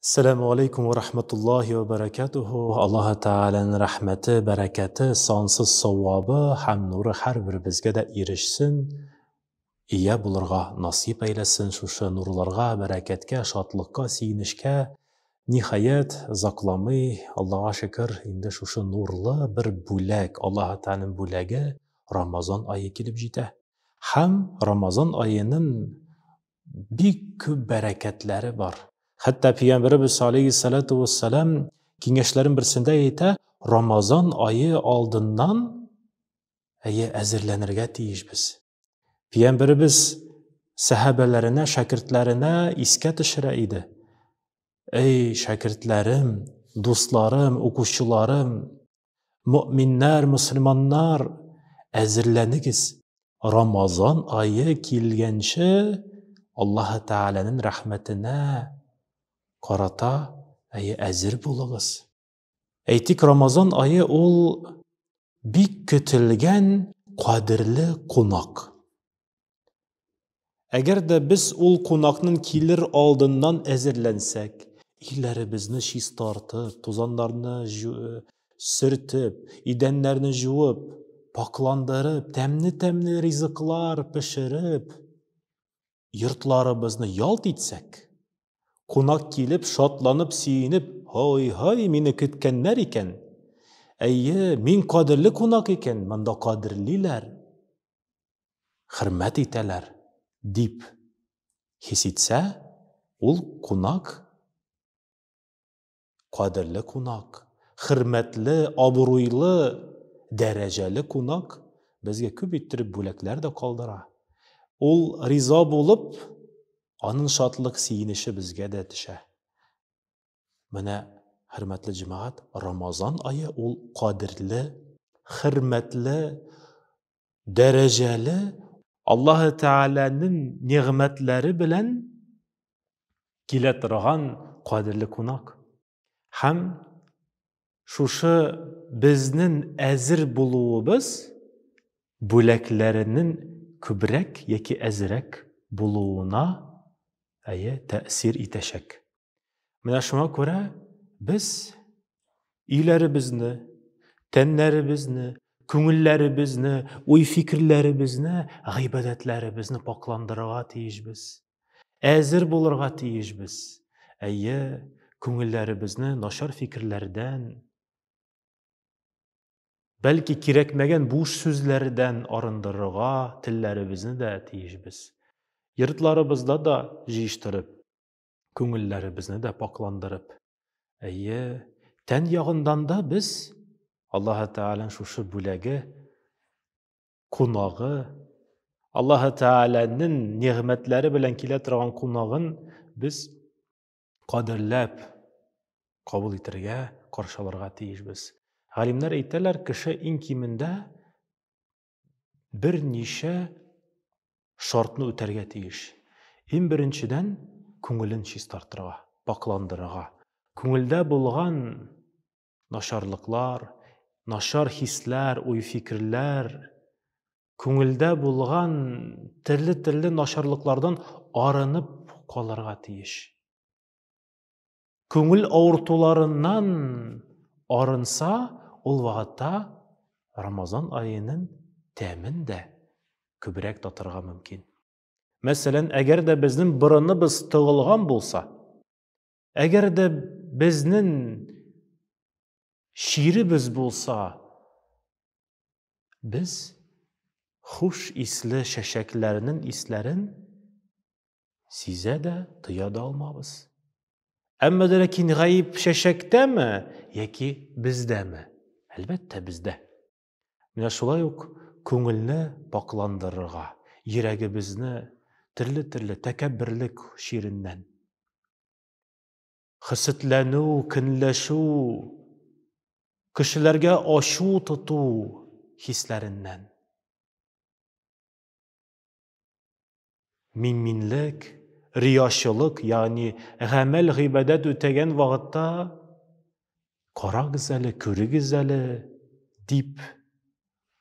Сәләмү алейкум вә рахматуллахи вә бәрәкәтүһү. Аллаһы Тәгаләнең рәхмәте, бәрәкәте, сансыз савабы һәм нуры һәрберебезгә дә ирешсен, ия булырга насыйп әйләсен шушы нурларга, бәрәкәткә, шатлыкка, сөенечкә. Ниһаять, озакламый, Аллага шөкер, инде шушы нурлы бер бүләк, Аллаһы Тәгаләнең бүләге, Рамазан ае килеп җитә. Һәм Рамазан аеның бик күп бәрәкәтләре бар. Хәтта пәйгамбәребез алейхиссалату вассалам киңәшләрен берсендә әйтә, Рамазан айы алдыннан әйе әзерләнергә тиешбез. Пәйгамбәребез сәхабәләренә, шәкертләренә искә төшерә иде. Эй, шәкертләрем, дусларым, укучыларым, Мөминнәр, мөселманнар, әзерләнегез. Рамазан ае килгәнче Аллаһы Тәгаләнең рәхмәтенә карата, әйе, әзер булыгыз. Әйтик, Рамазан ае ул бик көтелгән кадерле кунак. Әгәр дә без ул кунакның килер алдыннан әзерләнсәк, өйләребезне чистартып, тузаннарны э, сөртеп, идәннәрне жуып, пакландырып, тәмне-тәмне ризыклар пешереп, йортларыбызны ялт итсәк, кунак килеп, шатланып, сөенеп, «Һай-һай, мине көткәннәр икән!» Әйе, мин кадерле кунак икән, монда кадерлиләр. хөрмәт итәләр, дип хис итсә, ул кунак, кадерле кунак, хөрмәтле, абруйлы, дәрәҗәле кунак безгә күп иттереп бүләкләр дә калдыра. Ул риза булып, аның шатлык сөенече безгә дә төшә. Менә, хөрмәтле җәмәгать, Рамазан ае ул кадерле, хөрмәтле, дәрәҗәле Аллаһы Тәгаләнең нигъмәтләре белән килә торган кадерле кунак. Һәм шушы безнең әзер булуыбыз бүләкләренең күбрәк яки әзерәк булуына әйе тәэсир итәчәк. Менә шуңа күрә без өйләребезне, тәннәребезне, күңелләребезне, уй-фикерләребезне, гыйбадәтләребезне пакъландырырга тиешбез. Әзер булырга тиешбез. Әйе, күңелләребезне нашар фикерләрдән, бәлки кирәкмәгән буш сүзләрдән арындырырга телләребезне дә тиешбез. Йортларыбызда да җыештырып, күңелләребезне дә пакъландырып, әйе, тән ягындан да без Аллаһ Тәгалән шушы бүләге, кунагы, Аллаһ Тәгаләнең нигъмәтләре белән килә торган кунагын без кадерләп кабул итәргә, каршыларга тиешбез. Галимнәр әйтәләр, кеше иң кимендә берничә шартны үтәргә тиеш. Иң беренчедән, күңелен чистартырга, пакландырырга. Күңелдә булган начарлыклар, начар хисләр, уй-фикерләр, күңелдә булган төрле-төрле начарлыклардан арынып калырга тиеш. күңел авыртуларыннан арынса, ул вакытта Рамазан аенын тәмен дә күбрәк татырга мөмкин. Мәсәлән, әгәр дә безнең борыныбыз тыгылган булса, әгәр дә безнең чиребез булса, без хуш исле чәчәкләрнең исләрен Сизә дә, тоя да алмабыз. Әмма дә ләкин гаеп чәчәктәме яки бездәме? Әлбәттә, бездә. Менә шулай ук күңелне пакъландырырга, йөрәгебезне төрле-төрле тәкәбберлек чиреннән, хисетләнү, көнләшү, кешеләргә ачу тоту хисләреннән Мин-минлек, риячылык, ягъни гамәл-гыйбадәт үтәгән вакытта карагыз әле, күрегез әле дип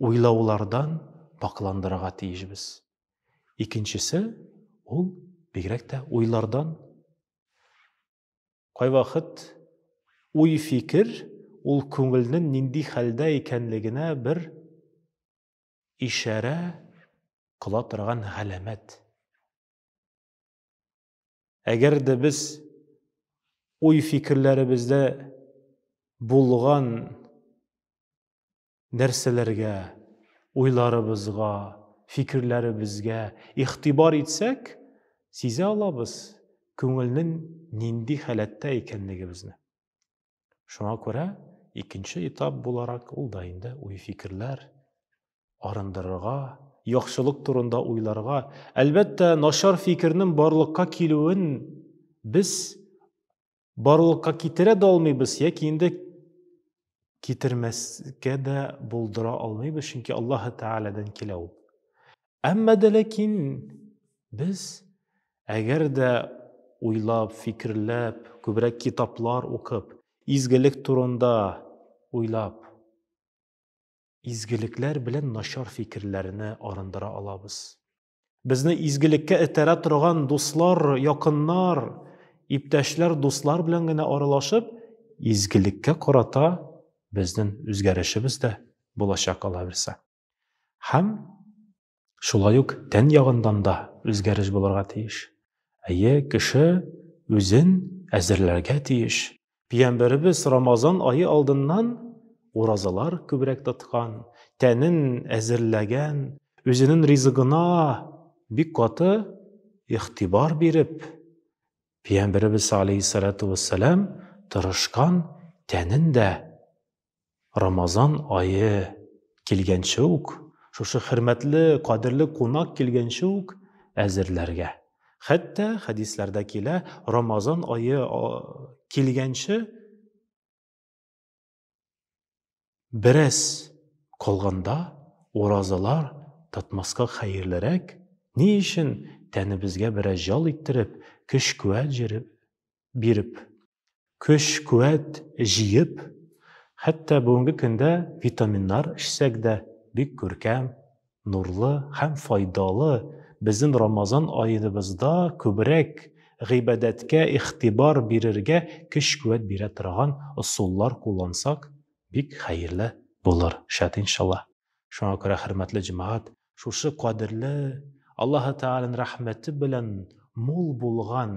уйлаулардан пакландырырга тиешбез. Икенчесе ул бигрәк тә уйлардан. Кайвакыт уй-фикер ул күңелнең нинди хәлдә икәнлегенә бер ишарә кыла торган галәмәт. Әгәр дә без уй-фикерләребездә булган нәрсәләргә, уйларыбызга, фикерләребезгә игътибар итсәк, сизә алабыз күңелнең нинди халәттә икәнлегебезне. Шуңа күрә икенче этап буларак ул да инде уй-фикерләр арындырырга, яхшылык турында уйларга, әлбәттә, начар фикернең барлыкка килүен без барлыкка китерә дә алмыйбыз, яки инде китермәскә дә булдыра алмыйбыз, чөнки Аллаһы Тәгаләдән килә ул. Әмма дә ләкин без әгәр дә уйлап, фикерләп, күбрәк китаплар укып, изгелек турында уйлап, изгелекләр белән начар фикерләрне арындыра алабыз. Безне изгелеккә этәрә торган дуслар, якыннар, иптәшләр, дуслар белән генә аралашып, изгелеккә карата безнең үзгәрешебез дә булачак алаберса. Һәм шулай ук тән ягыннан да үзгәреш булырга тиеш. Әйе, кеше үзен әзерләргә тиеш. Пиямбәребез Рамазан айы алдыннан уразалар күбрәк тоткан, тәнен әзерләгән, үзенең ризыгына бик каты ихтибар биреп, Пиямбәребез алейһиссалату вассалам тырышкан, тәнен дә Рамазан ае килгәнче үк, шушы хөрмәтле, кадерле кунак килгәнче үк әзерләргә. Хәтта хәдисләрдә килә, Рамазан ае килгәнче бераз калганда уразалар тотмаска хәерлерәк, ни өчен тәнебезгә бераз җал иттереп, көч-куәт биреп. Көч-куәт җыеп, хәтта бүгенге көндә витаминнар эчсәк дә, бик күркәм, нурлы һәм файдалы безнең Рамазан аеныбызда күбрәк гыйбадәткә игътибар бирергә көч-куәт бирә торган ысуллар куллансак, бик хәерле булыр шәт иншалла. Шуңа күрә, хөрмәтле җәмәгать, шушы кадерле, Аллаһы Тәгаләнең рәхмәте белән мул булган